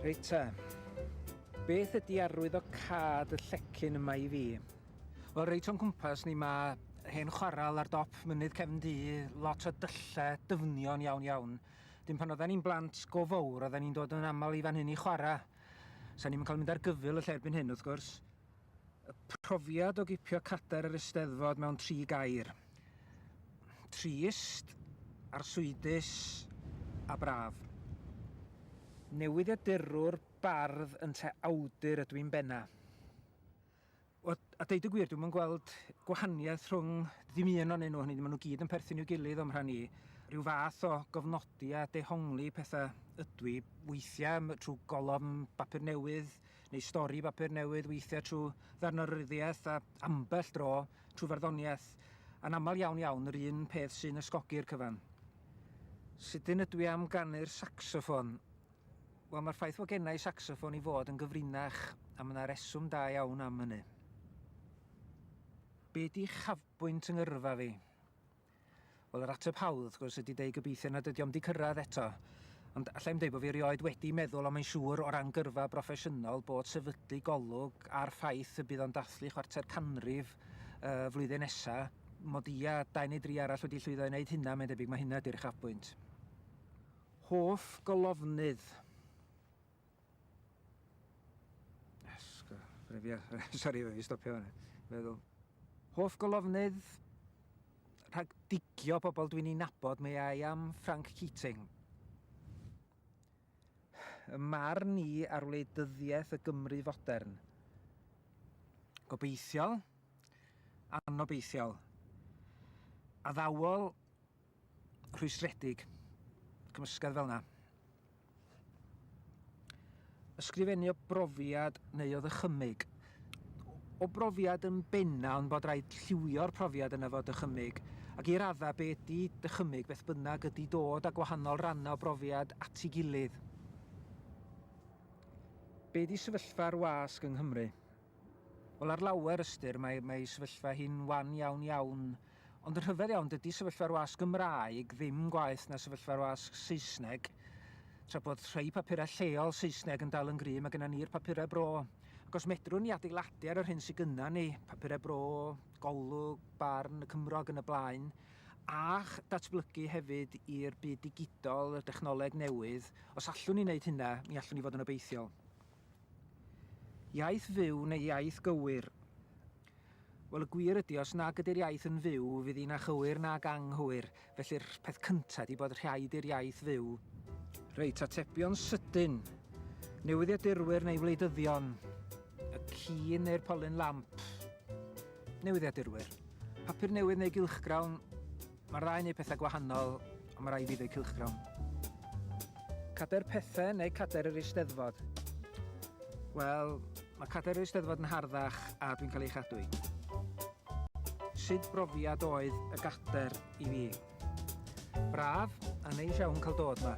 Reit ta, beth ydy arwydd o cad y llecyn yma i fi? Wel, reit o'n cwmpas ni mae hen chwaral ar dop mynydd cefn du, lot o dyllau dyfnion iawn iawn. Dim pan oedden ni'n blant go fawr oedden ni'n dod yn aml i fan hyn i chwarae. Sa ni'n cael mynd ar gyfyl y lle erbyn hyn wrth gwrs. Y profiad o gipio cadair yr Eisteddfod mewn tri gair. Trist, arswydus a braf. Newyddiadurwr, bardd yn te awdur ydw i'n benna. Wel, a deud y gwir, dwi'm yn gweld gwahaniaeth rhwng ddim un ohonyn nhw, hynny yw, maen nhw gyd yn perthyn i'w gilydd o'm rhan i. Rhyw fath o gofnodi a dehongli pethau ydw i, weithiau trwy golofn bapur newydd neu stori bapur newydd, weithiau trwy ddarnaryddiaeth a ambell dro trwy farddoniaeth, a'n aml iawn iawn yr un peth sy'n ysgogi'r cyfan. Sydyn ydw i am ganu'r sacsoffon. Wel, mae'r ffaith fod gennau saxoffon i fod yn gyfrinach, a mae yna reswm da iawn am hynny. Be di chafbwynt yng ngyrfa fi? Wel, yr ateb hawdd, wrth gwrs, ydy deud gobeithio nad ydy o'm di cyrraedd eto. Ond allai i'm deud bod fi erioed wedi meddwl ond mae'n siŵr o ran gyrfa broffesiynol bod sefydlu golwg ar ffaith y bydd o'n dathlu chwarter canrif uh, flwyddyn nesa, mod i a dau neu dri arall wedi llwyddo i wneud hynna, mae'n debyg mae hynna ydy'r chafbwynt. Hoff golofnydd? Esga, ffrefia, sori, fe fi stopio hwnna, feddwl. Hoff golofnydd? Rhag digio pobl dwi'n ei nabod, mae ai am Frank Keating. Y marn i ar wleidyddiaeth y Gymru fodern. Gobeithiol, anobeithiol, addawol rhwystredig, cymysgedd fel yna. Ysgrifennu o brofiad neu o ddychymyg. O brofiad yn benna ond bod rhaid lliwio'r profiad yna fod dychymyg, ac i radda be ydy dychymyg beth bynnag ydy dod a gwahanol rannau o brofiad at ei gilydd. Be ydy sefyllfa'r wasg yng Nghymru? Wel ar lawer ystyr mae, mae sefyllfa hi'n wan iawn iawn Ond yn rhyfedd iawn, dydy sefyllfa'r wasg Gymraeg ddim gwaeth na sefyllfa'r wasg Saesneg, tra bod rhai papurau lleol Saesneg yn dal yn gryf, mae gennym ni'r papurau bro. Ac os medrwn ni adeiladu ar yr hyn sydd gyda ni, papurau bro, Golwg, Barn, y Cymro ac yn y blaen, a datblygu hefyd i'r byd digidol, y dechnoleg newydd, os allwn ni wneud hynna, mi allwn ni fod yn obeithiol. Iaith fyw neu iaith gywir? Wel, y gwir ydi, os nag ydi'r iaith yn fyw, fydd hi'n achywir nag anghywir, felly'r peth cynta' ydi bod rhaid i'r iaith fyw. Reit, atebion sydyn. Newyddiadurwyr neu wleidyddion? Y ci neu'r polyn lamp? Newyddiadurwyr. Papur newydd neu gylchgrawn? Mae'r ddau yn neud pethau gwahanol ond mae rhaid i fi ddeud cylchgrawn. Cadair pethau neu cadair yr Eisteddfod? Wel, mae cadair yr Eisteddfod yn harddach a dwi'n cael ei chadw i. Sut brofiad oedd y gadair i fi? Braf a neis iawn cael dod yma.